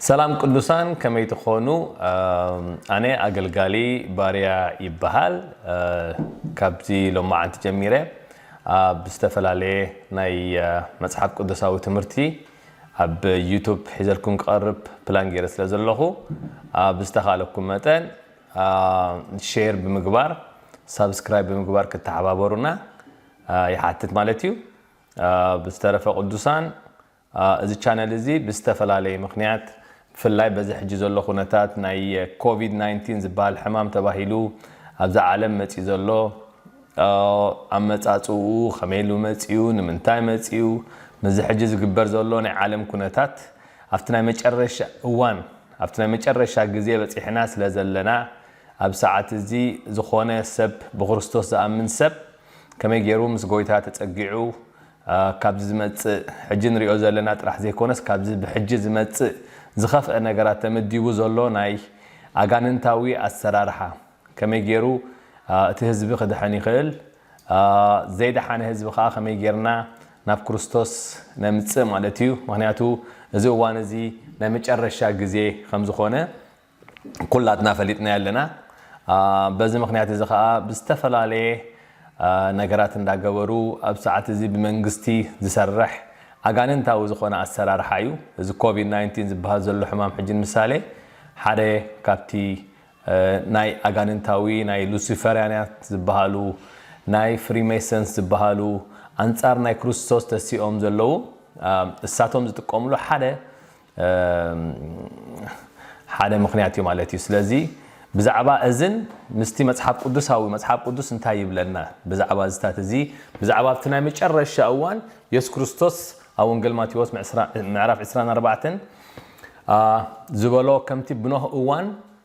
ሰላም ቅዱሳን ከመይ ትኾኑ ኣነ ኣገልጋሊ ባርያ ይበሃል ካብዚ ሎማዓንቲ ጀሚረ ኣብ ዝተፈላለየ ናይ መጽሓፍ ቅዱሳዊ ትምህርቲ ኣብ ዩቱብ ሒዘልኩም ክቐርብ ፕላን ገይረ ስለ ዘለኹ ብዝተኻለኩም መጠን ሼር ብምግባር ሳብስክራይብ ብምግባር ክተሓባበሩና ይሓትት ማለት እዩ ብዝተረፈ ቅዱሳን እዚ ቻነል እዚ ብዝተፈላለየ ምኽንያት ብፍላይ በዚ ሕጂ ዘሎ ኩነታት ናይ ኮቪድ ናይንቲን ዝብሃል ሕማም ተባሂሉ ኣብዛ ዓለም መጺኡ ዘሎ ኣመጻጽእኡ ከመይ ኢሉ መጺኡ ንምንታይ መጺኡ ምስዚ ሕጂ ዝግበር ዘሎ ናይ ዓለም ኩነታት ኣብቲ ናይ መጨረሻ እዋን ኣብቲ ናይ መጨረሻ ግዜ በጺሕና ስለ ዘለና ኣብዚ ሰዓት እዚ ዝኾነ ሰብ ብክርስቶስ ዝኣምን ሰብ ከመይ ጌሩ ምስ ጎይታ ተጸጊዑ ካብዚ ዝመጽእ ሕጂ ንሪኦ ዘለና ጥራሕ ዘይኮነስ ካብዚ ብሕጂ ዝመጽእ ዝኸፍኣ ነገራት ተመዲቡ ዘሎ ናይ ኣጋንንታዊ ኣሰራርሓ ከመይ ጌሩ እቲ ህዝቢ ክድሕን ይኽእል ዘይደሓነ ህዝቢ ከኣ ከመይ ጌርና ናብ ክርስቶስ ነምጽእ ማለት እዩ ምኽንያቱ እዚ እዋን እዚ ናይ መጨረሻ ግዜ ከም ዝኾነ ኩላትና ፈሊጥናዮ ኣለና። በዚ ምኽንያት እዚ ከኣ ብዝተፈላለየ ነገራት እንዳገበሩ ኣብ ሰዓት እዚ ብመንግስቲ ዝሰርሕ ኣጋንንታዊ ዝኾነ ኣሰራርሓ እዩ። እዚ ኮቪድ ናይንቲን ዝበሃል ዘሎ ሕማም ሕጂ ንምሳሌ ሓደ ካብቲ ናይ ኣጋንንታዊ ናይ ሉሲፈርያናት ዝበሃሉ ናይ ፍሪሜሰንስ ዝበሃሉ ኣንጻር ናይ ክርስቶስ ተሲኦም ዘለዉ እሳቶም ዝጥቀምሉ ሓደ ሓደ ምኽንያት እዩ ማለት እዩ። ስለዚ ብዛዕባ እዝን ምስቲ መጽሓፍ ቅዱሳዊ መጽሓፍ ቅዱስ እንታይ ይብለና ብዛዕባ እዚታት እዚ ብዛዕባ ኣብቲ ናይ መጨረሻ እዋን የሱስ ክርስቶስ ኣብ ወንጌል ማቴዎስ ምዕራፍ 24 ዝበሎ ከምቲ ብኖህ እዋን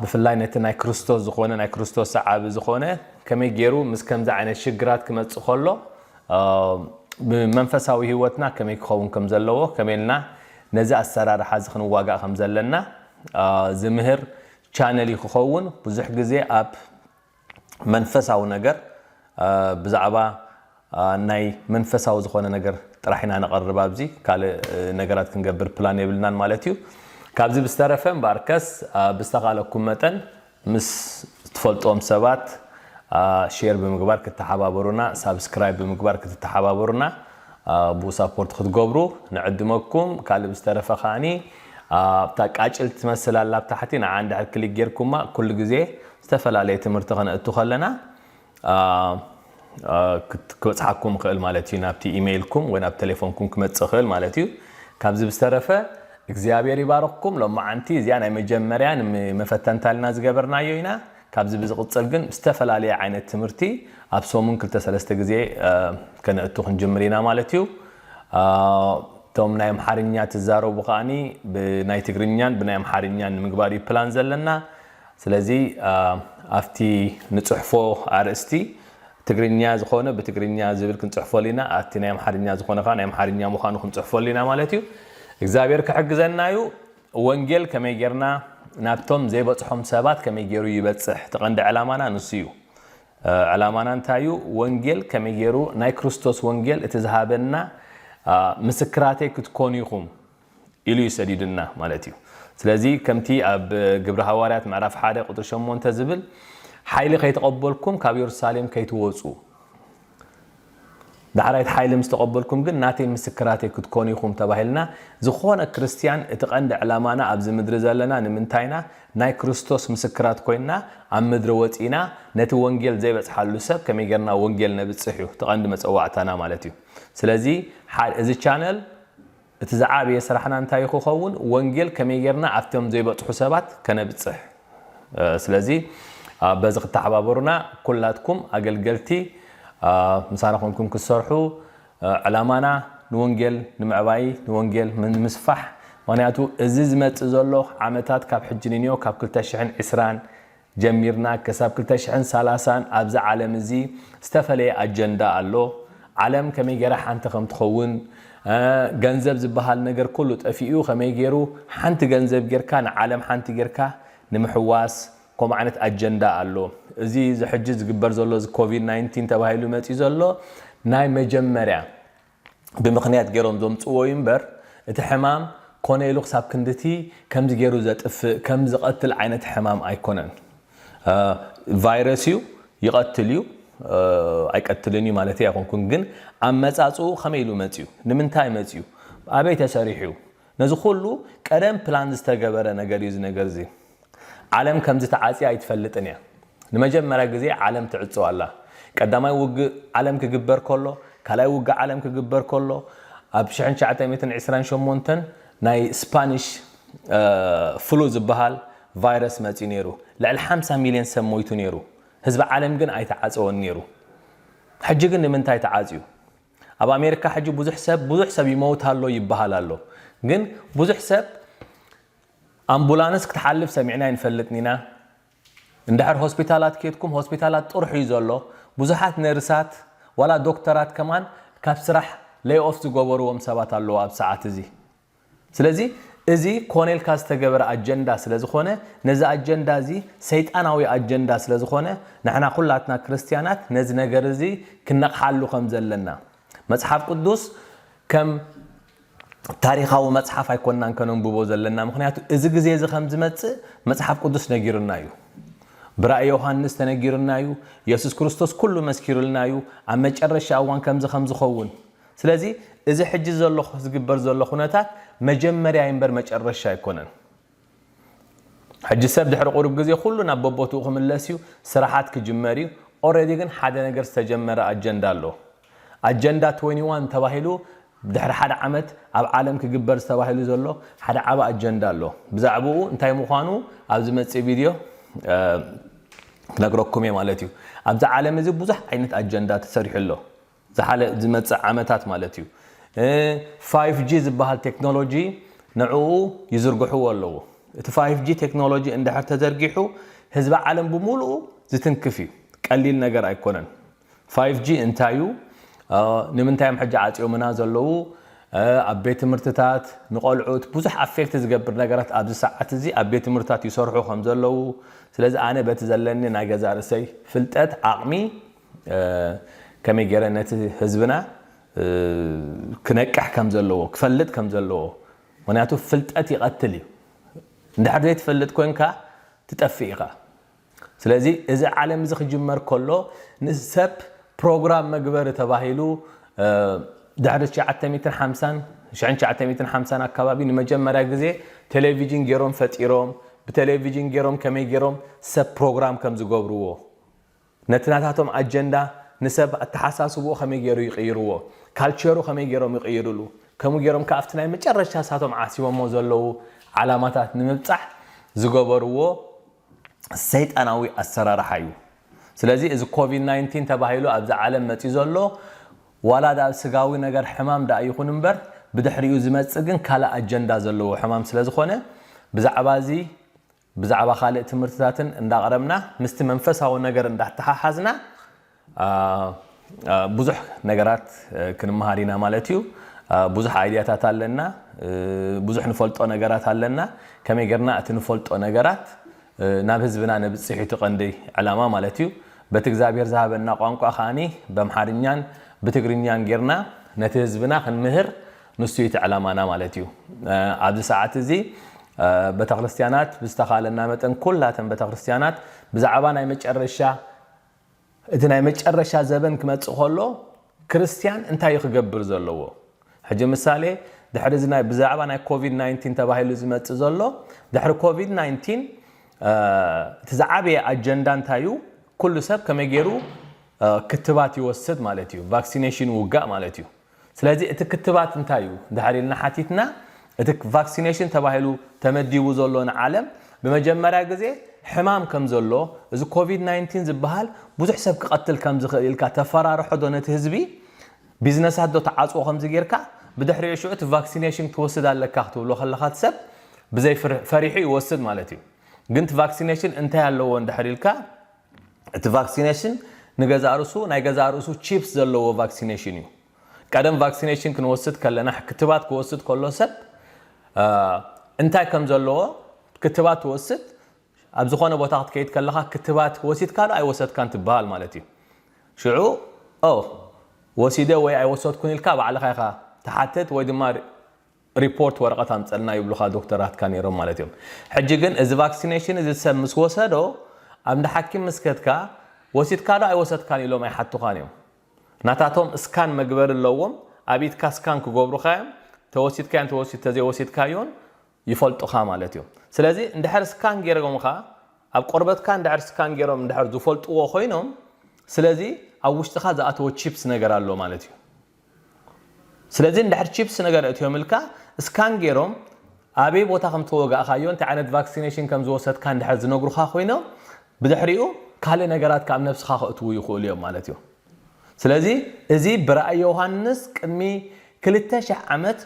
ብፍላይ ነቲ ናይ ክርስቶስ ዝኾነ ናይ ክርስቶስ ሰዓቢ ዝኾነ ከመይ ገይሩ ምስ ከምዚ ዓይነት ሽግራት ክመጽእ ከሎ ብመንፈሳዊ ህይወትና ከመይ ክኸውን ከም ዘለዎ ከመይ ኢልና ነዚ ኣሰራርሓ እዚ ክንዋጋእ ከም ዘለና ዝምህር ቻነል ክኸውን ብዙሕ ግዜ ኣብ መንፈሳዊ ነገር ብዛዕባ ናይ መንፈሳዊ ዝኾነ ነገር ጥራሕ ኢና ነቐርብ ኣብዚ ካልእ ነገራት ክንገብር ፕላን የብልናን ማለት እዩ ካብዚ ብዝተረፈ እምበኣር ከስ ብዝተኻለኩም መጠን ምስ ትፈልጦም ሰባት ሼር ብምግባር ክተሓባበሩና ሳብስክራይብ ብምግባር ክትተሓባበሩና ብኡ ሳፖርት ክትገብሩ ንዕድመኩም ካልእ ብዝተረፈ ከዓኒ ኣብታ ቃጭል ትመስል ኣላ ኣብ ታሕቲ ንዓ እንድሕር ክሊክ ጌርኩማ ኩሉ ግዜ ዝተፈላለየ ትምህርቲ ከነእቱ ከለና ክበጽሓኩም ይኽእል ማለት እዩ ናብቲ ኢመይልኩም ወይ ናብ ተሌፎንኩም ክመጽእ ይኽእል ማለት እዩ ካብዚ ብዝተረፈ እግዚኣብሔር ይባርኽኩም ሎማዓንቲ እዚኣ ናይ መጀመርያ ንመፈተንታልና ዝገበርናዮ ኢና ካብዚ ብዝቕጽል ግን ዝተፈላለየ ዓይነት ትምህርቲ ኣብ ሰሙን ክልተ ሰለስተ ግዜ ከነእቱ ክንጅምር ኢና ማለት እዩ እቶም ናይ ኣምሓርኛ ትዛረቡ ከዓኒ ብናይ ትግርኛን ብናይ ኣምሓርኛን ንምግባር እዩ ፕላን ዘለና ስለዚ ኣብቲ ንጽሕፎ ኣርእስቲ ትግርኛ ዝኾነ ብትግርኛ ዝብል ክንጽሕፎሉ ኢና ኣቲ ናይ ኣምሓርኛ ዝኾነ ከኣ ናይ ኣምሓርኛ ምዃኑ ክንጽሕፎሉ ኢና ማለት እዩ እግዚኣብሔር ክሕግዘና እዩ ወንጌል ከመይ ጌርና ናብቶም ዘይበጽሖም ሰባት ከመይ ጌሩ ይበጽሕ እቲ ቀንዲ ዕላማና ንሱ እዩ ዕላማና እንታይ እዩ ወንጌል ከመይ ጌሩ ናይ ክርስቶስ ወንጌል እቲ ዝሃበና ምስክራተይ ክትኮኑ ኢኹም ኢሉ እዩ ሰዲዱና ማለት እዩ። ስለዚ ከምቲ ኣብ ግብሪ ሃዋርያት ምዕራፍ ሓደ ቁጽሪ ሸሞንተ ዝብል ሓይሊ ከይተቐበልኩም ካብ የሩሳሌም ከይትወጹ ዳሕራይ እቲ ሓይሊ ምስ ተቐበልኩም ግን ናተይ ምስክራተይ ክትኮኑ ኢኹም ተባሂልና ዝኾነ ክርስትያን እቲ ቀንዲ ዕላማና ኣብዚ ምድሪ ዘለና ንምንታይና ናይ ክርስቶስ ምስክራት ኮይንና ኣብ ምድሪ ወጺና ነቲ ወንጌል ዘይበጽሓሉ ሰብ ከመይ ጌርና ወንጌል ነብጽሕ እዩ እቲ ቀንዲ መጸዋዕታና ማለት እዩ ስለዚ እዚ ቻነል እቲ ዝዓበየ ስራሕና እንታይ ክኸውን? ወንጌል ከመይ ጌርና ኣብቶም ዘይበጽሑ ሰባት ከነብጽሕ? ስለዚ በዚ ክተሓባበሩና ኩላትኩም ኣገልገልቲ ምሳና ኮንኩም ክትሰርሑ ዕላማና ንወንጌል ንምዕባይ ንወንጌል ንምስፋሕ ምክንያቱ እዚ ዝመጽእ ዘሎ ዓመታት ካብ ሕጂ ንንዮ ካብ ክልተ ሽሕን ዕስራን ጀሚርና ከሳብ ክልተ ሽሕን ሰላሳን ኣብዚ ዓለም እዚ ዝተፈለየ ኣጀንዳ ኣሎ ዓለም ከመይ ገራ ሓንቲ ከም ትኸውን ገንዘብ ዝበሃል ነገር ኩሉ ጠፊኡ ከመይ ገሩ ሓንቲ ገንዘብ ገርካ ንዓለም ሓንቲ ገርካ ንምሕዋስ ከምኡ ዓይነት ኣጀንዳ ኣሎ እዚ እዚ ሕጂ ዝግበር ዘሎ እዚ ኮቪድ ናይንቲን ተባሂሉ መጺኡ ዘሎ ናይ መጀመርያ ብምኽንያት ገይሮም ዘምጽእዎ እዩ እምበር እቲ ሕማም ኮነ ኢሉ ክሳብ ክንድቲ ከምዚ ገይሩ ዘጥፍእ ከም ዝቐትል ዓይነት ሕማም ኣይኮነን ቫይረስ እዩ ይቐትል እዩ ኣይቀትልን እዩ ማለተይ ኣይኮንኩን ግን ኣመጻጽኡ ከመይ ኢሉ መጽዩ ንምንታይ መጽዩ ኣበይ ተሰሪሑ እዩ ነዚ ኩሉ ቀደም ፕላን ዝተገበረ ነገር እዩ እዚ ነገር እዚ ዓለም ከምዚ ተዓጽያ ኣይትፈልጥን እያ። ንመጀመርያ ግዜ ዓለም ትዕጾ ኣላ። ቀዳማይ ውግእ ዓለም ክግበር ከሎ፣ ካልኣይ ውግእ ዓለም ክግበር ከሎ፣ ኣብ ሽሕን ትሽዓተ ሚእትን ዕስራን ሸሞንተን ናይ ስፓኒሽ ፍሉ ዝበሃል ቫይረስ መጽዩ ነይሩ። ልዕሊ ሓምሳ ሚልዮን ሰብ ሞይቱ ነይሩ። ህዝቢ ዓለም ግን ኣይተዓጸወን ነይሩ። ሕጂ ግን ንምንታይ ተዓጽዩ? ኣብ ኣሜሪካ ሕጂ ብዙሕ ሰብ ብዙሕ ሰብ ይመውት ኣሎ ይበሃል ኣሎ። ግን ብዙሕ ሰብ ኣምቡላንስ ክትሓልፍ ሰሚዕና ኣይንፈልጥን ኢና እንድሕር ሆስፒታላት ኬድኩም ሆስፒታላት ጥርሑ እዩ ዘሎ ብዙሓት ነርሳት ዋላ ዶክተራት ከማን ካብ ስራሕ ለይ ኦፍ ዝገበርዎም ሰባት ኣለዉ ኣብዚ ሰዓት እዚ ስለዚ እዚ ኮነ ኢልካ ዝተገበረ ኣጀንዳ ስለ ዝኾነ ነዚ ኣጀንዳ እዚ ሰይጣናዊ ኣጀንዳ ስለ ዝኾነ ንሕና ኩላትና ክርስትያናት ነዚ ነገር እዚ ክንነቕሓሉ ከም ዘለና መጽሓፍ ቅዱስ ከም ታሪኻዊ መጽሓፍ ኣይኮናን ከነንብቦ ዘለና ምኽንያቱ እዚ ግዜ እዚ ከም ዝመጽእ መጽሓፍ ቅዱስ ነጊሩና እዩ ብራእይ ዮሃንስ ተነጊሩና እዩ የሱስ ክርስቶስ ኩሉ መስኪሩልና እዩ ኣብ መጨረሻ እዋን ከምዚ ከም ዝኸውን ስለዚ እዚ ሕጂ ዘሎ ዝግበር ዘሎ ኩነታት መጀመርያ እምበር መጨረሻ ኣይኮነን ሕጂ ሰብ ድሕሪ ቁሩብ ግዜ ኩሉ ናብ በቦትኡ ክምለስ እዩ ስራሓት ክጅመር እዩ ኦረዲ ግን ሓደ ነገር ዝተጀመረ ኣጀንዳ ኣሎ ኣጀንዳ ትወኒ ዋን ተባሂሉ ድሕሪ ሓደ ዓመት ኣብ ዓለም ክግበር ዝተባሂሉ ዘሎ ሓደ ዓቢ ኣጀንዳ ኣሎ ብዛዕብኡ እንታይ ምዃኑ ኣብ ዝመጽእ ቪድዮ ክነግረኩም እየ ማለት እዩ ኣብዚ ዓለም እዚ ብዙሕ ዓይነት ኣጀንዳ ተሰሪሑ ኣሎ ዝሓለ ዝመጽእ ዓመታት ማለት እዩ ፋይፍ ጂ ዝበሃል ቴክኖሎጂ ንዕኡ ይዝርግሕዎ ኣለዉ። እቲ ፋይፍ ጂ ቴክኖሎጂ እንድሕር ተዘርጊሑ ህዝቢ ዓለም ብሙሉኡ ዝትንክፍ እዩ። ቀሊል ነገር ኣይኮነን። ፋይፍ ጂ እንታይ እዩ? ንምንታይ እዮም ሕጂ ዓጽዮምና ዘለዉ? ኣብ ቤት ትምህርትታት ንቆልዑት ብዙሕ ኣፌክት ዝገብር ነገራት ኣብዚ ሰዓት እዚ ኣብ ቤት ትምህርትታት ይሰርሑ ከምዘለዉ ስለዚ ኣነ በቲ ዘለኒ ናይ ገዛእ ርእሰይ ፍልጠት ዓቕሚ ከመይ ገይረ ነቲ ህዝብና ክነቅሕ ከም ዘለዎ ክፈልጥ ከም ዘለዎ ምክንያቱ ፍልጠት ይቀትል እዩ እንድሕር ዘይትፈልጥ ኮንካ ትጠፍእ ኢካ ስለዚ እዚ ዓለም እዚ ክጅመር ከሎ ንሰብ ፕሮግራም መግበሪ ተባሂሉ ድሕሪ ትሽዓተ ሚእትን ሓምሳን ሽሕን ትሽዓተ ሚእትን ሓምሳን ኣካባቢ ንመጀመርያ ግዜ ቴሌቪጅን ገይሮም ፈጢሮም ብቴሌቪጅን ገይሮም ከመይ ገይሮም ሰብ ፕሮግራም ከም ዝገብርዎ ነቲ ናታቶም ኣጀንዳ ንሰብ ኣተሓሳስብኡ ከመይ ገይሩ ይቕይርዎ፣ ካልቸሩ ከመይ ገይሮም ይቕይርሉ፣ ከምኡ ገይሮም ከኣ ኣብቲ ናይ መጨረሻ ንሳቶም ዓሲቦሞ ዘለዉ ዓላማታት ንምብጻሕ ዝገበርዎ ሰይጣናዊ ኣሰራርሓ እዩ። ስለዚ እዚ ኮቪድ ናይንቲን ተባሂሉ ኣብዚ ዓለም መጺኡ ዘሎ ዋላ ድኣ ስጋዊ ነገር ሕማም ድኣ ይኹን እምበር ብድሕሪኡ ዝመጽእ ግን ካልእ ኣጀንዳ ዘለዎ ሕማም ስለዝኾነ ብዛዕባ እዚ ብዛዕባ ካልእ ትምህርትታትን እንዳቕረብና ምስቲ መንፈሳዊ ነገር እንዳተሓሓዝና ብዙሕ ነገራት ክንመሃር ኢና ማለት እዩ። ብዙሕ ኣይድያታት ኣለና፣ ብዙሕ ንፈልጦ ነገራት ኣለና፣ ከመይ ጌርና እቲ ንፈልጦ ነገራት ናብ ህዝብና ነብጽሕ እዩ እቲ ቀንዲ ዕላማ ማለት እዩ። በቲ እግዚኣብሄር ዝሃበና ቋንቋ ከኣ በምሓርኛን ብትግርኛን ጌርና ነቲ ህዝብና ክንምህር ንሱ እዩ እቲ ዕላማና ማለት እዩ። ኣብዚ ሰዓት እዚ በተክርስትያናት ብዝተኻለና መጠን ኩላተን በተክርስትያናት ብዛዕባ ናይ መጨረሻ እቲ ናይ መጨረሻ ዘበን ክመጽእ ከሎ ክርስትያን እንታይ እዩ ክገብር ዘለዎ ሕጂ ምሳሌ ድሕሪ እዚ ናይ ብዛዕባ ናይ ኮቪድ 19 ተባሂሉ ዝመጽእ ዘሎ ድሕሪ ኮቪድ 19 እቲ ዝዓበየ ኣጀንዳ እንታይ እዩ ኩሉ ሰብ ከመይ ገይሩ ክትባት ይወስድ ማለት እዩ ቫክሲኔሽን ውጋእ ማለት እዩ ስለዚ እቲ ክትባት እንታይ እዩ እንድሕር ኢልና ሓቲትና እቲ ቫክሲነሽን ተባሂሉ ተመዲቡ ዘሎ ንዓለም ብመጀመርያ ግዜ ሕማም ከም ዘሎ እዚ ኮቪድ ናይንቲን ዝብሃል ብዙሕ ሰብ ክቐትል ከም ዝኽእል ኢልካ ተፈራርሖ ዶ ነቲ ህዝቢ ቢዝነሳት ዶ ትዓጽዎ ከምዚ ጌርካ ብድሕሪኡ ሽዑ እቲ ቫክሲነሽን ክትወስድ ኣለካ ክትብሎ ከለኻ እቲ ሰብ ብዘይ ፈሪሑ ይወስድ ማለት እዩ ግን እቲ ቫክሲነሽን እንታይ ኣለዎ እንድሕር ኢልካ እቲ ቫክሲነሽን ንገዛእ ርእሱ ናይ ገዛእ ርእሱ ቺፕስ ዘለዎ ቫክሲነሽን እዩ። ቀደም ቫክሲነሽን ክንወስድ ከለና ክትባት ክወስድ ከሎ ሰብ እንታይ ከም ዘለዎ ክትባት ትወስድ ኣብ ዝኾነ ቦታ ክትከይድ ከለኻ ክትባት ወሲድካ ዶ ኣይወሰድካን ትበሃል ማለት እዩ። ሽዑ ኦ ወሲደ ወይ ኣይወሰድኩን ኢልካ ባዕልኻ ኢኻ ትሓትት ወይ ድማ ሪፖርት ወረቀት ኣምጸልና ይብሉኻ ዶክተራትካ ኔሮም ማለት እዮም ሕጂ ግን እዚ ቫክሲነሽን እዚ ሰብ ምስ ወሰዶ ኣብ እንዳ ሓኪም ምስ ከድካ ወሲድካ ዶ ኣይወሰድካን ኢሎም ኣይሓቱኻን እዮም ናታቶም እስካን መግበሪ ኣለዎም ኣብ ኢድካ እስካን ክገብሩኻ እዮም ተወሲድካዮን ተዘይወሲድካዮን ይፈልጡኻ ማለት እዮም ስለዚ እንድሕር እስካን ጌሮምኻ ኣብ ቆርበትካ እንድሕር እስካን ጌሮም እንድሕር ዝፈልጥዎ ኮይኖም ስለዚ ኣብ ውሽጥኻ ዝኣተወ ቺፕስ ነገር ኣሎ ማለት እዩ ስለዚ እንድሕር ቺፕስ ነገር ኣእትዮምልካ እስካን ጌሮም ኣበይ ቦታ ከም ዝተወጋእካዮ እንታይ ዓይነት ቫክሲነሽን ከም ዝወሰድካ እንድሕር ዝነግሩኻ ኮይኖም ብድሕሪኡ ካልእ ነገራትካ ኣብ ነብስኻ ከእትዉ ይኽእሉ እዮም ማለት እዩ። ስለዚ እዚ ብራእይ ዮሃንስ ቅድሚ ክልተ ሽሕ ዓመት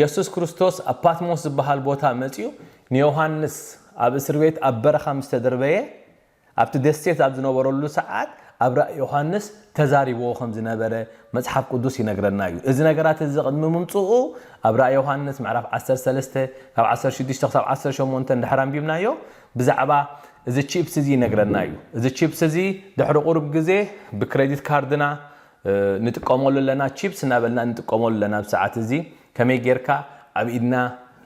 የሱስ ክርስቶስ ኣብ ፓትሞስ ዝበሃል ቦታ መጺኡ ንዮሃንስ ኣብ እስርቤት ኣብ በረኻ ምስ ተደርበየ፣ ኣብቲ ደሴት ኣብ ዝነበረሉ ሰዓት ኣብ ራእይ ዮሃንስ ተዛሪብዎ ከም ዝነበረ መጽሓፍ ቅዱስ ይነግረና እዩ። እዚ ነገራት እዚ ቅድሚ ምምጽኡ ኣብ ራእይ ዮሃንስ ምዕራፍ ዓሰርተ ሰለስተ ካብ ዓሰርተ ሽዱሽተ ክሳብ ዓሰርተ ሸሞንተ እንድሕር ኣንቢብናዮ ብዛዕባ እዚ ቺፕስ እዚ ይነግረና እዩ። እዚ ቺፕስ እዚ ድሕሪ ቁሩብ ግዜ ብክረዲት ካርድና ንጥቀመሉ ኣለና ቺፕስ እናበልና ንጥቀመሉ ኣለና ኣብዚ ሰዓት እዚ ከመይ ጌርካ ኣብ ኢድና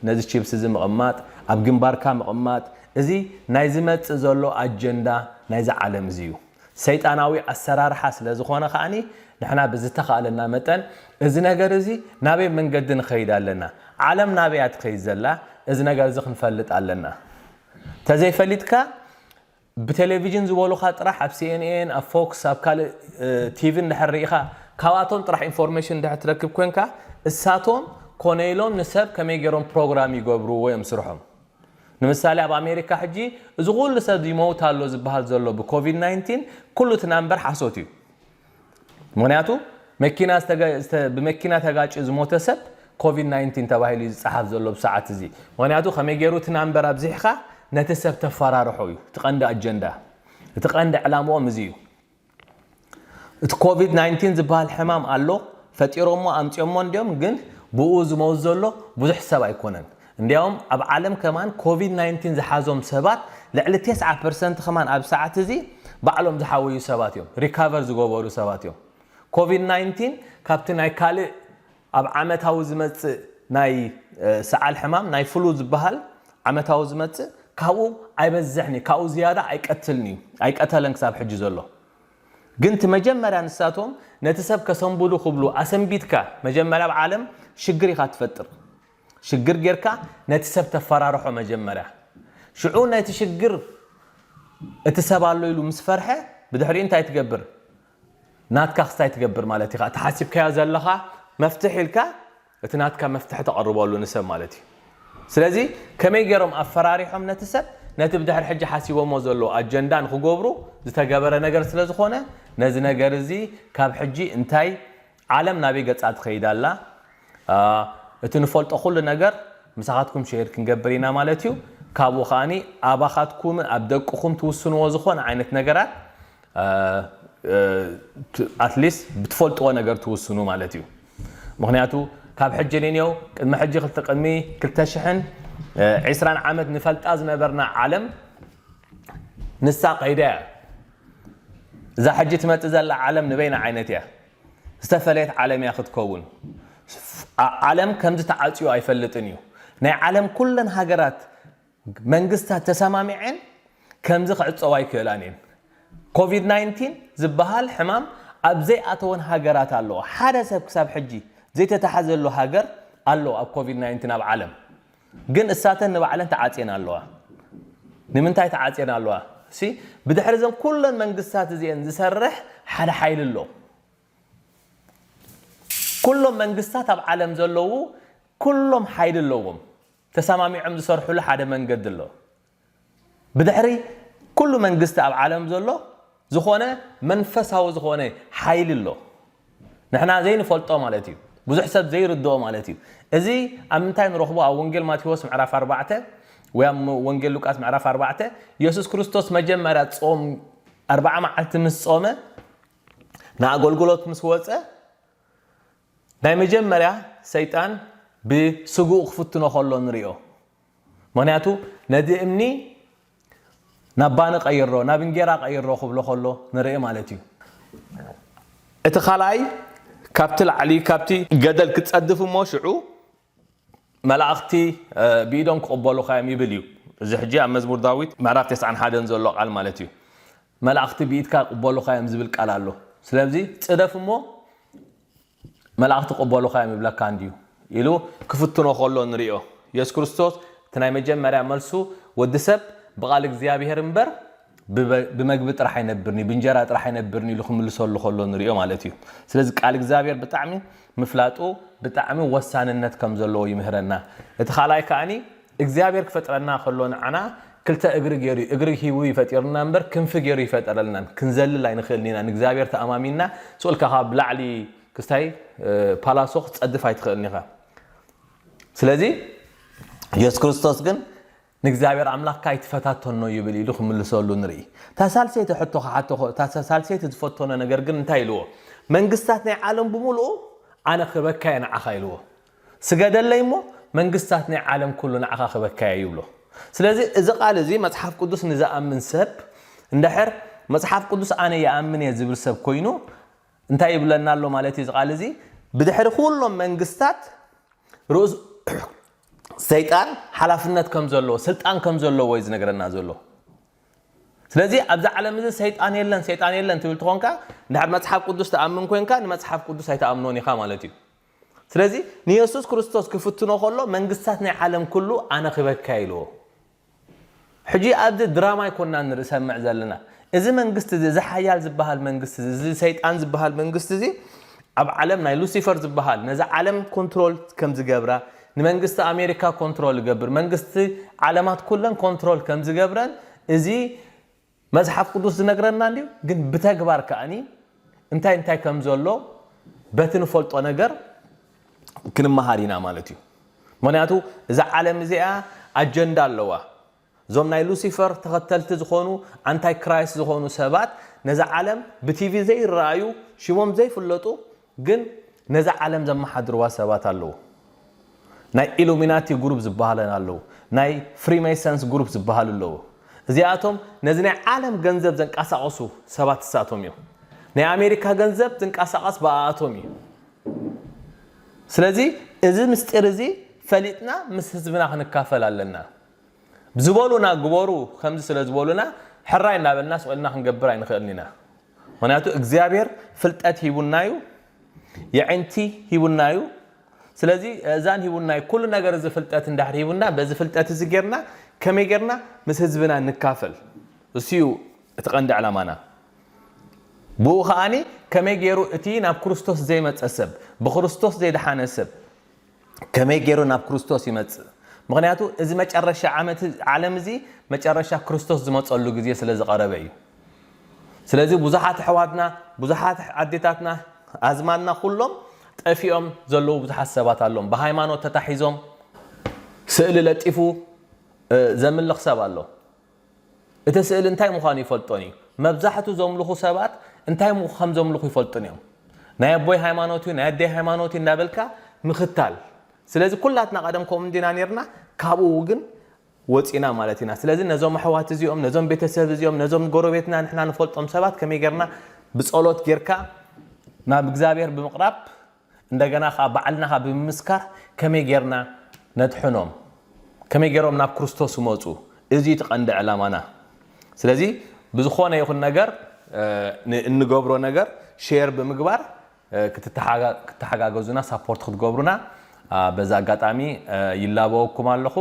ነዚ ቺፕስ እዚ ምቕማጥ ኣብ ግንባርካ ምቕማጥ እዚ ናይ ዝመጽእ ዘሎ ኣጀንዳ ናይዛ ዓለም እዚ እዩ ሰይጣናዊ ኣሰራርሓ ስለ ዝኾነ ከኣ ንሕና ብዝተኻእለና መጠን እዚ ነገር እዚ ናበይ መንገዲ ንኸይድ ኣለና ዓለም ናበይ እያ ትኸይድ ዘላ እዚ ነገር እዚ ክንፈልጥ ኣለና ተዘይፈሊጥካ ብቴሌቪዥን ዝበሉኻ ጥራሕ ኣብ ሲኤንኤን ኣብ ፎክስ ኣብ ካልእ ቲቪ እንድሕር ሪኢኻ ካብኣቶም ጥራሕ ኢንፎርሜሽን እንድሕር ትረክብ ኮንካ እሳቶም ኮነ ኢሎም ንሰብ ከመይ ጌሮም ፕሮግራም ይገብርዎ እዮም ስርሖም ንምሳሌ ኣብ ኣሜሪካ ሕጂ እዚ ኩሉ ሰብ ይመውት ኣሎ ዝብሃል ዘሎ ብኮቪድ ናይንቲን ኩሉ እቲ ናምበር ሓሶት እዩ ምኽንያቱ መኪና ብመኪና ተጋጭዩ ዝሞተ ሰብ ኮቪድ ናይንቲን ተባሂሉ እዩ ዝፀሓፍ ዘሎ ኣብዚ ሰዓት እዚ። ምኽንያቱ ከመይ ገይሩ እቲ ናምበር ኣብዚሕኻ ነቲ ሰብ ተፈራርሖ እዩ እቲ ቀንዲ ኣጀንዳ። እቲ ቀንዲ ዕላምኦም እዚ እዩ። እቲ ኮቪድ ናይንቲን ዝበሃል ሕማም ኣሎ፣ ፈጢሮሞ ኣምፂኦሞ እንድዮም ግን ብኡ ዝመውት ዘሎ ብዙሕ ሰብ ኣይኮነን። እንድያውም ኣብ ዓለም ከማን ኮቪድ ናይንቲን ዝሓዞም ሰባት ልዕሊ ቴስዓ ፐርሰንት ከማን ኣብዚ ሰዓት እዚ ባዕሎም ዝሓወዩ ሰባት እዮም፣ ሪካቨር ዝገበሩ ሰባት እዮም። ኮቪድ ናይንቲን ካብቲ ናይ ካልእ ኣብ ዓመታዊ ዝመጽእ ናይ ሰዓል ሕማም ናይ ፍሉ ዝበሃል ዓመታዊ ዝመጽእ ካብኡ ኣይበዝሕን እዩ፣ ካብኡ ዝያዳ ኣይቀትልን እዩ፣ ኣይቀተለን ክሳብ ሕጂ ዘሎ። ግን እቲ መጀመርያ ንሳቶም ነቲ ሰብ ከሰንብዱ ክብሉ ኣሰንቢድካ መጀመርያ ኣብ ዓለም ሽግር ኢኻ ትፈጥር። ሽግር ጌርካ ነቲ ሰብ ተፋራርሖ መጀመርያ ሽዑ ነቲ ሽግር እቲ ሰብ ኣሎ ኢሉ ምስ ፈርሐ ብድሕሪኡ እንታይ ትገብር ናትካ ክስታይ ትገብር ማለት ኢካ እቲ ሓሲብካዮ ዘለካ መፍትሕ ኢልካ እቲ ናትካ መፍትሒ ተቅርበሉ ንሰብ ማለት እዩ ስለዚ ከመይ ጌሮም ኣፈራሪሖም ነቲ ሰብ ነቲ ብድሕሪ ሕጂ ሓሲቦሞ ዘለዉ ኣጀንዳ ንክገብሩ ዝተገበረ ነገር ስለ ዝኮነ ነዚ ነገር እዚ ካብ ሕጂ እንታይ ዓለም ናበይ ገጻ ትኸይድ ኣላ እቲ ንፈልጦ ኩሉ ነገር ምሳኻትኩም ሼር ክንገብር ኢና ማለት እዩ ካብኡ ከኣ ኣባኻትኩምን ኣብ ደቅኹም ትውስንዎ ዝኾነ ዓይነት ነገራት ኣትሊስት ብትፈልጥዎ ነገር ትውስኑ ማለት እዩ ምኽንያቱ ካብ ሕጂ ንንየው ቅድሚ ሕጂ ክልተ ቅድሚ ክልተ ሽሕን ዒስራን ዓመት ንፈልጣ ዝነበርና ዓለም ንሳ ከይዳ እያ እዛ ሕጂ ትመጽእ ዘላ ዓለም ንበይና ዓይነት እያ ዝተፈለየት ዓለም እያ ክትከውን። ዓለም ከምዚ ተዓጽዩ ኣይፈልጥን እዩ። ናይ ዓለም ኩለን ሃገራት መንግስታት ተሰማሚዐን ከምዚ ክዕጸዋ ኣይክእላን እየን። ኮቪድ ናይንቲን ዝበሃል ሕማም ኣብ ዘይኣተወን ሃገራት ኣለዋ። ሓደ ሰብ ክሳብ ሕጂ ዘይተታሕዘሉ ሃገር ኣሎ ኣብ ኮቪድ ናይንቲን ኣብ ዓለም። ግን እሳተን ንባዕለን ተዓጽየን ኣለዋ። ንምንታይ ተዓጽየን ኣለዋ? እሲ ብድሕሪ እዘን ኩለን መንግስታት እዚኤን ዝሰርሕ ሓደ ሓይሊ ኣሎ። ኩሎም መንግስታት ኣብ ዓለም ዘለዉ ኩሎም ሓይሊ ኣለዎም። ተሰማሚዖም ዝሰርሕሉ ሓደ መንገዲ ኣሎ። ብድሕሪ ኩሉ መንግስቲ ኣብ ዓለም ዘሎ ዝኾነ መንፈሳዊ ዝኾነ ሓይሊ ኣሎ ንሕና ዘይንፈልጦ ማለት እዩ ብዙሕ ሰብ ዘይርድኦ ማለት እዩ እዚ ኣብ ምንታይ ንረኽቦ ኣብ ወንጌል ማቴዎስ ምዕራፍ ኣርባዕተ ወይ ኣብ ወንጌል ሉቃስ ምዕራፍ ኣርባዕተ የሱስ ክርስቶስ መጀመርያ ጾም ኣርባዓ መዓልቲ ምስ ጾመ ንኣገልግሎት ምስ ወፀ ናይ መጀመርያ ሰይጣን ብስግኡ ክፍትኖ ከሎ ንሪኦ ምኽንያቱ ነቲ እምኒ ናብ ባኒ ቀይሮ፣ ናብ እንጌራ ቀይሮ ክብሎ ከሎ ንርኢ ማለት እዩ። እቲ ካልኣይ ካብቲ ላዕሊ ካብቲ ገደል ክትጸድፍ እሞ ሽዑ መላእኽቲ ብኢዶም ክቕበሉኻ እዮም ይብል እዩ። እዚ ሕጂ ኣብ መዝሙር ዳዊት ምዕራፍ ተስዓን ሓደን ዘሎ ቃል ማለት እዩ። መላእኽቲ ብኢድካ ክቕበሉኻ እዮም ዝብል ቃል ኣሎ። ስለዚ ጽደፍ እሞ መላእኽቲ ክቕበሉኻ እዮም ይብለካ እንድዩ ኢሉ ክፍትኖ ከሎ ንሪኦ። የሱስ ክርስቶስ እቲ ናይ መጀመርያ መልሱ ወዲ ሰብ ብቓል እግዚኣብሄር እምበር ብመግቢ ጥራሕ ኣይነብርን እዩ ብእንጀራ ጥራሕ ኣይነብርን ኢሉ ክምልሰሉ ከሎ ንሪኦ ማለት እዩ። ስለዚ ቃል እግዚኣብሄር ብጣዕሚ ምፍላጡ ብጣዕሚ ወሳንነት ከም ዘለዎ ይምህረና። እቲ ካልኣይ ከኣኒ እግዚኣብሔር ክፈጥረና ከሎ ንዓና ክልተ እግሪ ገይሩ እዩ እግሪ ሂቡ እዩ ፈጢሩና እምበር ክንፊ ገይሩ ኣይፈጠረልናን ክንዘልል ኣይንኽእልን ኢና ንእግዚኣብሔር ተኣማሚንና ሱቅ ኢልካ ካብ ላዕሊ ክስታይ ፓላሶ ክትጸድፍ ኣይትኽእልን ኢኻ ስለዚ ኢየሱስ ክርስቶስ ግን ንእግዚኣብሔር ኣምላኽካ ኣይትፈታተኖ ይብል ኢሉ ክምልሰሉ ንርኢ እታ ሳልሰይቲ ሕቶ ክሓቶ እታ ሳልሰይቲ ዝፈተኖ ነገር ግን እንታይ ኢልዎ መንግስታት ናይ ዓለም ብምልኡ ኣነ ክበካየ ንዓኻ ኢልዎ ስገደለይ እሞ መንግስታት ናይ ዓለም ኩሉ ንዓኻ ክበካ እየ ይብሎ። ስለዚ እዚ ቃል እዚ መጽሓፍ ቅዱስ ንዝኣምን ሰብ እንድሕር መጽሓፍ ቅዱስ ኣነ ይኣምን እየ ዝብል ሰብ ኮይኑ እንታይ ይብለና ኣሎ ማለት እዩ እዚ ቃል እዚ ብድሕሪ ኩሎም መንግስታት ርእሱ ሰይጣን ሓላፍነት ከም ዘለዎ ስልጣን ከም ዘለዎ እዩ ዝነግረና ዘሎ። ስለዚ ኣብዚ ዓለም እዚ ሰይጣን የለን ሰይጣን የለን ትብል ትኾንካ እንድሕር መጽሓፍ ቅዱስ ትኣምን ኮንካ ንመጽሓፍ ቅዱስ ኣይትኣምኖን ኢኻ ማለት እዩ። ስለዚ ንየሱስ ክርስቶስ ክፍትኖ ከሎ መንግስታት ናይ ዓለም ኩሉ ኣነኺበካ ኢልዎ። ሕጂ ኣብዚ ድራማ ኣይኮናን ንርሰምዕ ዘለና። እዚ መንግስቲ እዚ እዚ ሓያል ዝበሃል መንግስቲ እዚ እዚ ሰይጣን ዝበሃል መንግስቲ እዚ ኣብ ዓለም ናይ ሉሲፈር ዝበሃል ነዛ ዓለም ኮንትሮል ከም ዝገብራ ንመንግስቲ ኣሜሪካ ኮንትሮል ይገብር መንግስቲ ዓለማት ኩለን ኮንትሮል ከም ዝገብረን እዚ መጽሓፍ ቅዱስ ዝነግረና እንድዩ ግን ብተግባር ከኣኒ እንታይ እንታይ ከም ዘሎ በቲ ንፈልጦ ነገር ክንመሃር ኢና ማለት እዩ ምክንያቱ እዛ ዓለም እዚኣ ኣጀንዳ ኣለዋ እዞም ናይ ሉሲፈር ተኸተልቲ ዝኾኑ ኣንታይ ክራይስት ዝኾኑ ሰባት ነዛ ዓለም ብቲቪ ዘይረኣዩ ሽሞም ዘይፍለጡ ግን ነዛ ዓለም ዘማሓድርዋ ሰባት ኣለዉ ናይ ኢሉሚናቲ ጉሩብ ዝባሃለን ኣለዉ ናይ ፍሪመይሰንስ ጉሩብ ዝባሃሉ ኣለዉ እዚኣቶም ነዚ ናይ ዓለም ገንዘብ ዘንቃሳቅሱ ሰባት እሳቶም እዮም ናይ ኣሜሪካ ገንዘብ ዝንቃሳቀስ ብኣኣቶም እዩ ስለዚ እዚ ምስጢር እዚ ፈሊጥና ምስ ህዝብና ክንካፈል ኣለና ዝበሉና ግበሩ ከምዚ ስለ ዝበሉና ሕራይ እናበልና ስቅ ኢልና ክንገብር ኣይንክእልን ኢና ምክንያቱ እግዚኣብሔር ፍልጠት ሂቡና እዩ የዒንቲ ሂቡና እዩ ስለዚ እእዛን ሂቡና እዩ ኩሉ ነገር እዚ ፍልጠት እንድሕር ሂቡና በዚ ፍልጠት እዚ ጌርና ከመይ ጌርና ምስ ህዝብና ንካፈል እሱ እዩ እቲ ቀንዲ ዕላማና ብኡ ከኣ ከመይ ጌሩ እቲ ናብ ክርስቶስ ዘይመጸ ሰብ ብክርስቶስ ዘይደሓነ ሰብ ከመይ ገይሩ ናብ ክርስቶስ ይመጽእ? ምኽንያቱ እዚ መጨረሻ ዓመት ዓለም እዚ መጨረሻ ክርስቶስ ዝመጸሉ ግዜ ስለ ዝቐረበ እዩ። ስለዚ ብዙሓት ኣሕዋትና፣ ብዙሓት ኣዴታትና፣ ኣዝማድና ኩሎም ጠፊኦም ዘለዉ ብዙሓት ሰባት ኣሎም። ብሃይማኖት ተታሒዞም ስእሊ ለጢፉ ዘምልኽ ሰብ ኣሎ። እቲ ስእሊ እንታይ ምዃኑ ይፈልጦን እዩ። መብዛሕቱ ዘምልኹ ሰባት እንታይ ከም ዘምልኹ ይፈልጡን እዮም። ናይ ኣቦይ ሃይማኖት እዩ ናይ ኣደይ ሃይማኖት እዩ እንዳበልካ ምኽታል ስለዚ ኩላትና ቀደም ከምኡ እንዲና ኔርና ካብኡ ግን ወጺና ማለት ኢና። ስለዚ ነዞም ኣሕዋት እዚኦም ነዞም ቤተሰብ እዚኦም ነዞም ጎረቤትና ንሕና ንፈልጦም ሰባት ከመይ ጌርና ብጸሎት ጌርካ ናብ እግዚኣብሔር ብምቕራብ እንደገና ከኣ ባዕልና ከኣ ብምምስካር ከመይ ጌርና ነድሕኖም ከመይ ጌሮም ናብ ክርስቶስ ክመጹ እዚ እዩ እቲ ቀንዲ ዕላማና ስለዚ ብዝኾነ ይኹን ነገር ንእንገብሮ ነገር ሼር ብምግባር ክትተሓጋገዙና ሳፖርት ክትገብሩና በዚ ኣጋጣሚ ይላበወኩም ኣለኹ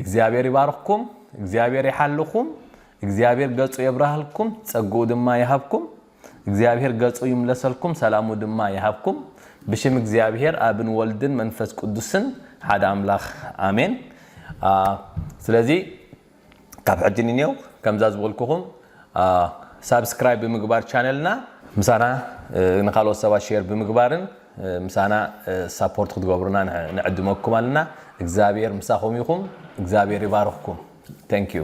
እግዚኣብሔር ይባርኽኩም እግዚኣብሔር ይሓልኹም እግዚኣብሔር ገጹ የብራህልኩም ጸግኡ ድማ ይሃብኩም። እግዚኣብሔር ገጹ ይምለሰልኩም ሰላሙ ድማ ይሃብኩም ብሽም እግዚኣብሔር ኣብን ወልድን መንፈስ ቅዱስን ሓደ ኣምላኽ ኣሜን ስለዚ ካብ ሕጂ ንኔው ከምዛ ዝበልኩኹም ሳብስክራይብ ብምግባር ቻነልና ምሳና ንካልኦት ሰባት ሼር ብምግባርን ምሳና ሳፖርት ክትገብሩና ንዕድመኩም ኣለና እግዚኣብሔር ምሳኹም ይኹም እግዚኣብሔር ይባርኽኩም ተንኪዩ